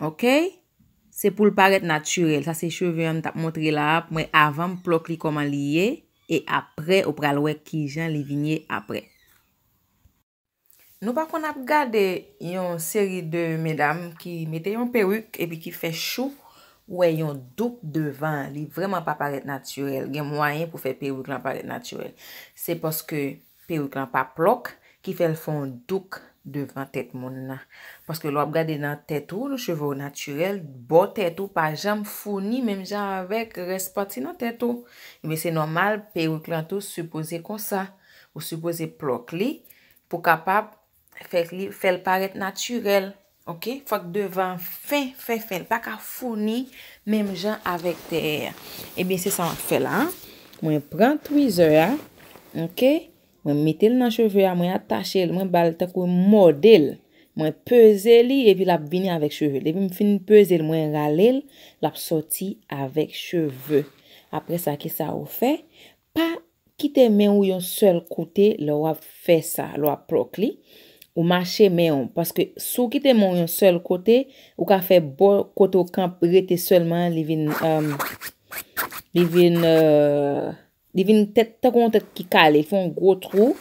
Ok Se poul parèt naturel Sa se cheve an m tap montre la a mwen avan m plòk li kòman li ye e aprè ou pral wè kijan li vin ye aprè. Nou pa konn ap gade yon seri de medam ki mete yon peruk epi ki fè chou ou wè yon douk devan li vrèman pa parèt naturel gen mwayen pou fè peruk lan parèt naturel se paske Perik lan pa plòk ki fèl fè yon douk devan tèt moun nan. Paske lè wap gade nan tèt ou, cheve w natirèl, bò tèt ou pa janm founi menm jan avèk rès pati nan tèt ou. Ebyen se nòmal perik lan tou sipoze konsa. Ou sipoze plòk li pou kapab Fèk li fèl parèt natirèl ok fòk devan fen fen fen li paka founi menm jan avèk dèyè a ebyen se sa map fè la mwen pran twizè a ok mwen metel nan cheve a mwen atachel mwen bal tankou mòdel mwen peze li epi lap vini avèk cheve depim fin pezel mwen ralel lap sòti avèk cheve apresa kisa ou fè Pa kite men ou yon sèl kote lè w ap fè sa, lè w ap plòk li, ou mache men ou, paske si w kite men w yon sèl kote, ou ka fè bò kote w kanp rete sèlman an li vin li vin li vin tèt tankou yon tèt ki kale, li fè yon gwo twou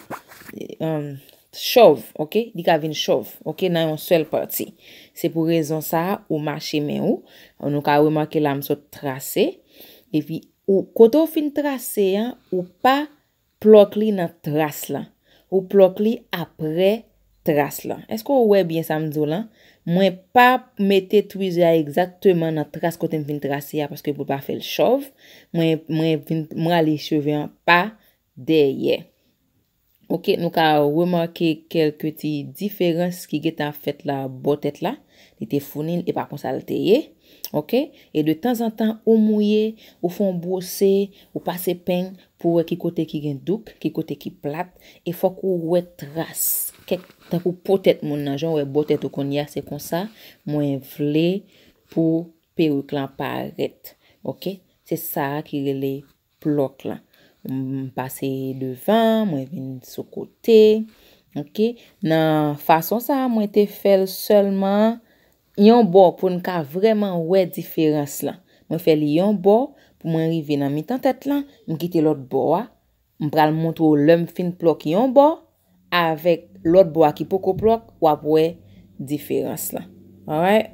chòv ok, li ka vin chòv ok nan yon sèl pati se pou rezon sa a ou mache men ou nou ka remake la m sot trase epi Ou kote ou fin trase an ou pa plòk li nan tras lan. Ou plòk li aprè tras lan. Eske ou wè byen sa m di w lan? Mwen pa mete twizè a egzakteman nan tras kote m fin trase a paske pou l pa fè l chòv. Mwen vin m rale cheve an pa dèyè. Ok, nou ka remake kelke ti diferans ki gen tan fèt la bò tèt la. Li te founi l, e pa konsa l te ye. Ok, e de tanzantan ou mouye, ou fè yon bwose, ou pase peny pou wè ki kote ki gen douk, ki kote ki plat, e fòk ou wè tras, kèk, tankou po tèt moun nan, jan w wè bò tèt ou kounye a, se konsa mwen vle pou peruk lan parèt. Ok, se sa a ki rele plot la m pase devan mwen vin sou kote ok nan fason sa mwen te fel selman yon bò pou n ka vreman wè diferans lan mwen fè li yon bò pou mwen rive nan mitan tèt lan m kite lot bò a m pral montre w lè m fin plòk yon bò avek lot bò a ki poko plòk wap wè diferans lan alright.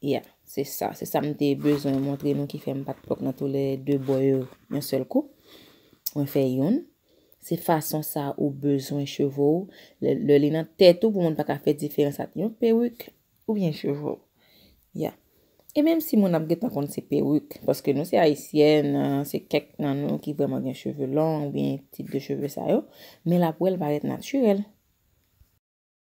Yeah, se sa. Se sa m te bezwen montre nou ki fè m pa t pwòp nan tou lè de bò yo yon sèl kou. Mwen fè youn. Se fason sa ou bezwen cheve w lè li nan tèt ou pou moun pa ka fè diferans ant yon perik oubyen cheve w. Yeah. E menm si moun ap gen tan konn se perik, paske nou se Ayisyèn, se kèk nan nou ki vrèman gen cheve long oubyen tip de cheve sa yo, men l ap wè l parèt natirèl.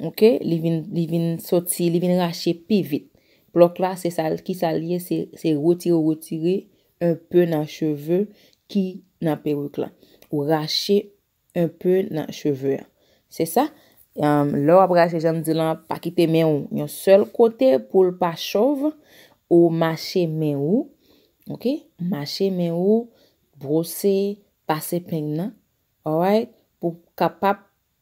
Ok, li vin, li vin soti, li vin rache pi vit. Plòk la, se sa l, ki sa l ye, se, se retire ou retire un peu nan cheve ki nan peruk la. Ou rache un peu nan cheve an. Se sa? Am, lè w ap rache jan m di lan, pa kite men ou yon sèl kote pou l pa chòv, ou mache men ou, ok, mache men ou, bwose, pase peng nan, alright, pou kapab.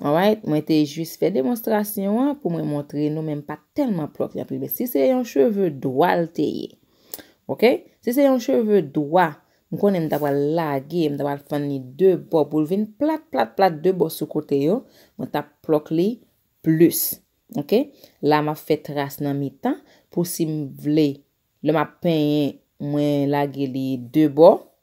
Alright mwen te jis fè demonstrasyon an pou mwen montre nou men m pat tèlman pwòp li anpil men si se yon cheve dwa l te ye ok si se yon cheve dwa m konnen m ta pral lage m ta pral fann li 2 bò pou l vin plat plat plat 2 bò sou kote yo mwen tap plòk li plis ok la map fè tras nan mitan pou si m vle lè map penyen mwen lage li 2 bò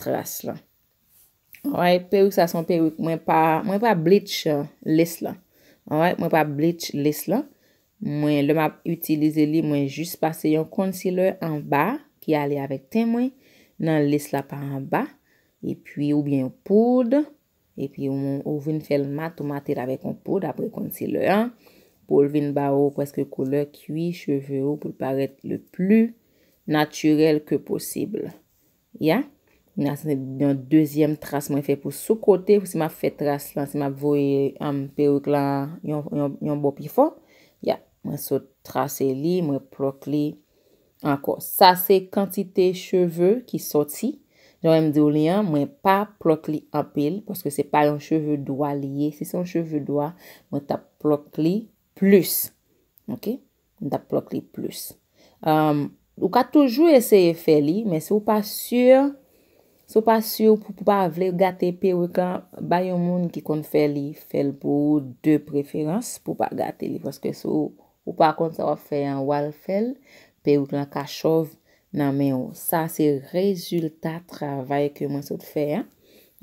tras lan alright perik sa son perik mwen pa mwen pa bleach lace lan alright mwen pa bleach lace lan mwen lè map itilize li mwen jis pase yon concealer anba ki ale avèk ten mwen nan lace la pa anba epi ou byen yon poud epi ou vin fèl mat ou matel avèk yon poud apre concealer an poul vin ba ou preske koulè kwi cheve ou poul parèt le pli naturel ke posib. Ya, na se yon dezyèm tras mwen fè pou sou kote pou si map fè tras lan si map voye um, peruk la yon yon bò pi fò. Ya, mwen sot trase li, mwen plòk li ankò. Sa se kantite cheve ki sòti. Jan mwen diw li an, mwen pa plòk li anpil paske se pa yon cheve dwa li ye. Si se yon cheve dwa, mwen tap plòk li plis. Ok. m tap plòk li plus ou ka toujou eseye fè li men si ou pa sur si ou pa sur pou pa vle gate peruk lan bay yon moun ki konn fè li fèl pou ou de preferans pou pa gate li paske si ou pa konn sa wap fè an wal fèl peruk lan ka chòv Nan men ou. Sa se rezilta travay ke mwen sot fè a.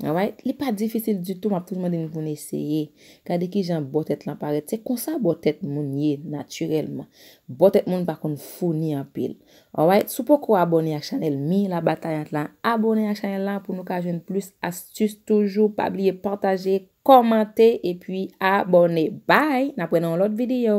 Alright. Li pa difisil ditou, m ap toujou mande moun pou n eseye. Gade ki jan bò tèt lan parèt. Se konsa bò tèt moun ye natirèlman. Bò tèt moun pa konn founi anpil. Alright. Si w poko abòne ak chanèl Mi la Batayant la, abòne ak chanèl la pou nou ka jwenn plis astis toujou. Pa bliye pataje, kòmante epi abòne. Bye! N ap wè nan yon lòt videyo.